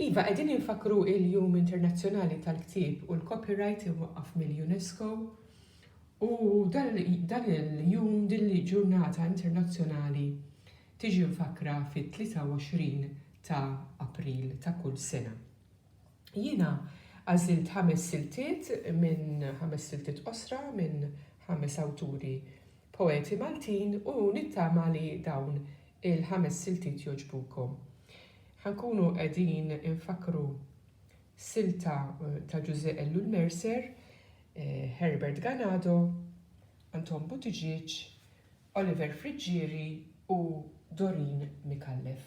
Iva, qegħdin infakkru il-Jum Internazzjonali tal-Ktieb u l-Copyright imwaqqaf mill-UNESCO u dan il-jum, din il-ġurnata internazzjonali tiġi mfakkra fit-23 ta' April ta' kull sena. Jiena għażilt ħames siltiet minn ħames siltiet qosra minn ħames awturi Poeti Maltin u nittama li dawn il-ħames siltiet jogħġbukom. Ħa nkunu qegħdin infakkru silta ta' Ġużè Ellul Mercer, Herbert Ganado, Anton Buttigieg, Oliver Friggieri u Doreen Micallef.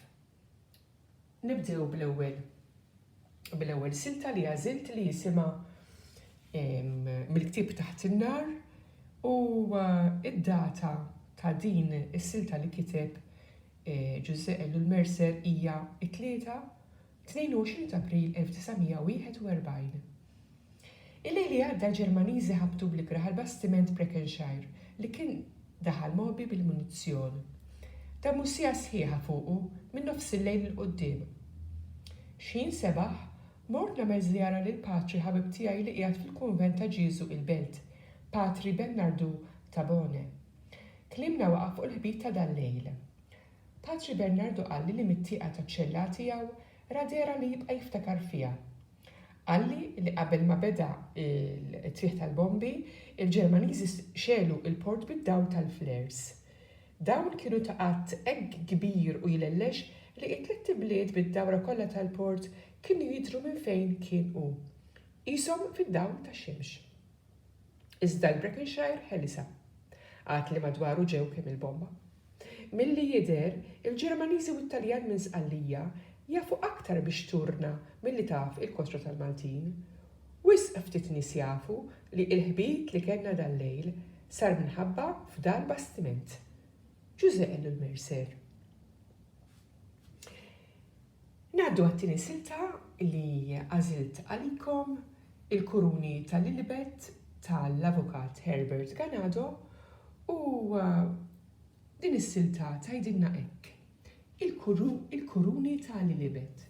Nibdew bl-ewwel bl-ewwel silta li għażilt li jisimha mill-ktieb Taħt in-Nar u d-data ta' din is-silta li kiteb Ġużè Ellul Mercer hija t-Tlieta, 22 t'April 1941. Il-lejl li għadda Ġermaniżi ħabtu bl-ikrah għal bastiment Breckenshire li kien daħal mogħbi bil-munizzjon. Damu siegħa sħiħa fuqu minn nofsillejl 'il quddiem. X'ħin sebaħ, mort nagħmel żjara lil patri ħabib tiegħi li qiegħed fil-kunvent ta' Ġieżu il-Belt, Patri Bernardu Tabone. Tlimmna waqgħa fuq il-ħbit ta' dal-lejl. Patri Bernardu qalli li mit-tieqa taċ-ċella tiegħu ra dehra li jibqa' jiftakar fiha. Qalli li qabel ma beda t-tfigħ tal-bombi, il-Ġermaniżi xegħlu l-port bid-dawl tal-flares. Dawn kienu ta' għadd hekk kbir u jlellex li t-tlett ibliet bid-dawra kollha tal-port kienu jidhru minn fejn kien hu, qishom fid-dawl tax-xemx. Iżda l-Breckenshire ħelisha. Għad li madwaru ġew kemm-il bomba. Milli jidher, il-Ġermaniżi u t-Taljan minn Sqallija jafu aktar bix-xturna milli taf il-kostra tal-Maltin. Wisq ftit nies jafu li il-ħbit li kellna dal-lejl sar minħabba f'dal bastiment. Ġużè Elul Mercer. Ngħaddu għat-tieni silta li għażilt għalikom, Il-Kuruni ta' Lilibet ta' l-Avukat Herbert Ganado u din is-silta tgħidilna hekk, Il-Kuruni ta' Lilibet.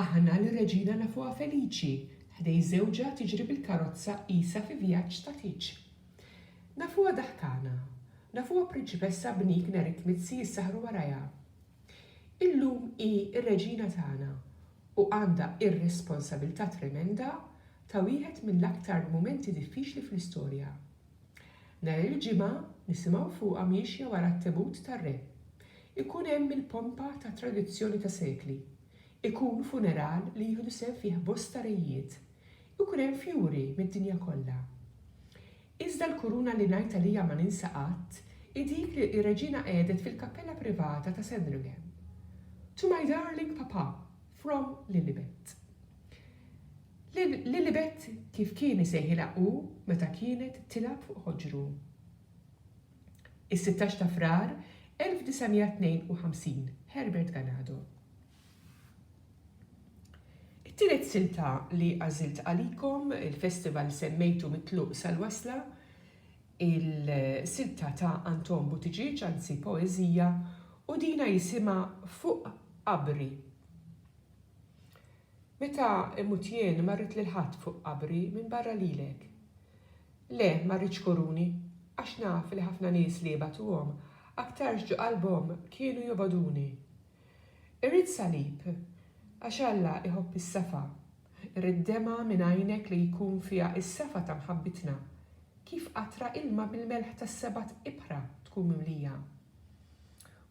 Aħna lir-Reġina nafuha feliċi, ħdej żewġha tiġri bil-karozza qisha fi vjaġġ ta' tieġ. Nafuha daħkana, nafuha prinċipessa bnik nhar it-tmizi jissaħħru warajha. Illum hi r-reġina tagħna u għandha r-responsabilità tremenda ta' wieħed mill-aktar mumenti diffiċli fl-istorja. Nhar il-Ġimgħa nisimgħu fuqha miexja wara t-tebut tar-Re. Ikun hemm il-pompa ta' tradizzjoni ta' sekli. Ikun funeral li jieħdu sehem fih bosta rejiet. Ikun hemm fjuri mid-dinja kollha. Iżda l-kuruna li ngħid għaliha ma ninsa qatt hi dik li r-Reġina qegħdet fil-kappella privata ta' Sandringham. To my darling Papa, from Lilibet. Lil Lilibet kif kien isejħilha hu meta kienet tilgħab fuq ħoġru. Is-sittax ta' Frar 1952, Herbert Ganado. It-tielet silta li għażilt għalikom, il-festival semmejtu mit-tluq sal-wasla, il-silta ta' Anton Buttigieg, anzi poeżija, u dina jisimha Fuq Qabri. Meta imut jien ma rrid lil ħadd fuq qabri minbarra lilek. Le, ma rridx koruni, għax naf li ħafna nies li jibgħatuhom aktarx ġo qalbhom kienu jobgħoduni. Irrid salib, għax Alla jħobb is-safa, irrid demgħa minn għajnek li jkun fiha s-safa ta' mħabbitna, kif qatra ilma bil-melħ tas-sebat ibħra tkun mimlija.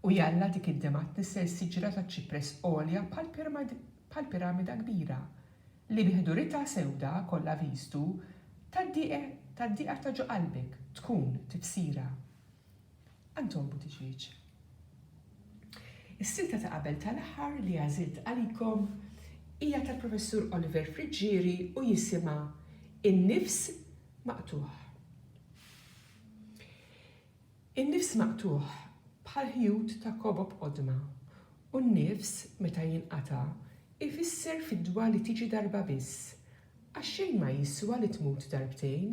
U jalla dik id-demgħa tnissel siġra taċ-ċipress għolja bħal piramida kbira, li bi ħduritha sewda kollha viżtu tad-dieqer ta' ġo qalbek tkun tibsira. Anton Buttigieg. Is-silta ta' qabel tal-aħħar li għażilt għalikom hija tal-Professur Oliver Friggieri u jisimha In-Nifs Maqtugħ. In-nifs maqtugħ bħal ħjut ta' kobob qodma u n-nifs meta jinqata' jfisser fidwa li tiġi darba biss Għax xejn ma jiswa li tmut darbtejn.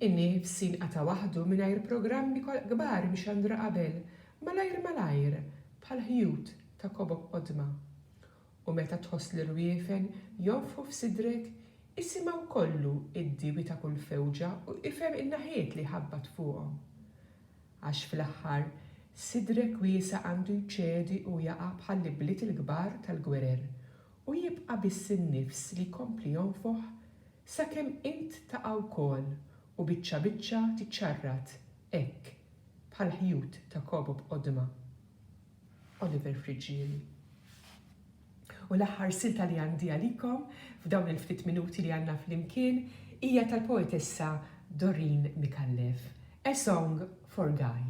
In-nifs jinqata' waħdu mingħajr programmi kbar mxandra qabel, malajr malajr, bħal ħjut ta' kobok qodma. U meta tħoss l-irwiefen jonfħu f'sidrek, isimgħu kollu id-diewi ta' kull fewġa u ifhem in-naħiet li jħabbat fuqhom. Għax fl-aħħar, sidrek wiesa' għandu jċedi u jaqa' bħall-ibliet il-kbar tal-gwerer U jibqa' biss in-nifs li jkompli jonfoħ sakemm int taqa' wkoll u biċċa biċċa tiċċarrat hekk bħall-ħjut ta' kobob qodma. Oliver Friggieri. U l-aħħar silta li għandi għalikom f'dawn il-ftit minuti li għandna flimkien hija tal-poetessa Doreen Micallef, A Song for Guy.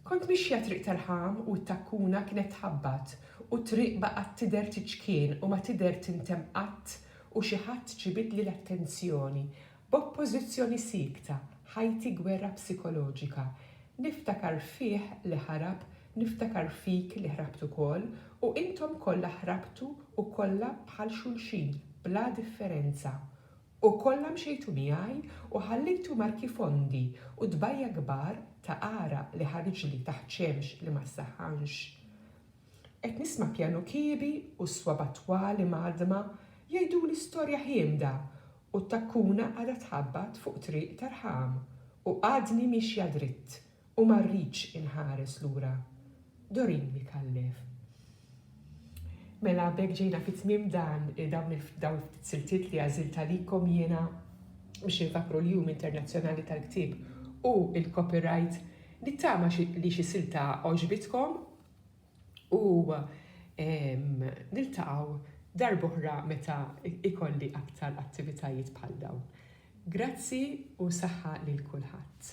Kont mixja triq tal-ħam u t-takkuna kienet tħabbat u t-triq baqgħet tidher tiċkien u ma tidher tintemm qatt u xi ħadd ġibidli l-attenzjoni. B'oppożizzjoni siekta, ħajti gwerra psikoloġika. Niftakar fih li ħarab, niftakar fik li ħrabt ukoll u intom kollha ħrabtu u kollha bħal xulxin bla differenza. U kollha mxejtu miegħi u ħallejtu marki fondi u tbajja' kbar ta' għaraq li ħariġli taħt xemx li ma ssaħħanx. Qed nisma' pjanu kiebi u s-swaba' twal imgħaddma jgħiduli storja ħiemda u t-takkuna għadha tħabbat fuq triq ta' rħam u għadni miexja dritt U ma rridx inħares lura. Doreen Micallef Mela b'hekk ġejna fi tmiem dan dawn il-ftit siltiet li għażilt għalikom jiena biex infakkru l-Jum Internazzjonali tal-Ktieb u l-Copyright. Nittama li xi silta għoġbitkom u niltaqgħu darb'oħra meta ikolli aktar attivitajiet bħal dawn. Grazzi u saħħa lil kulħadd.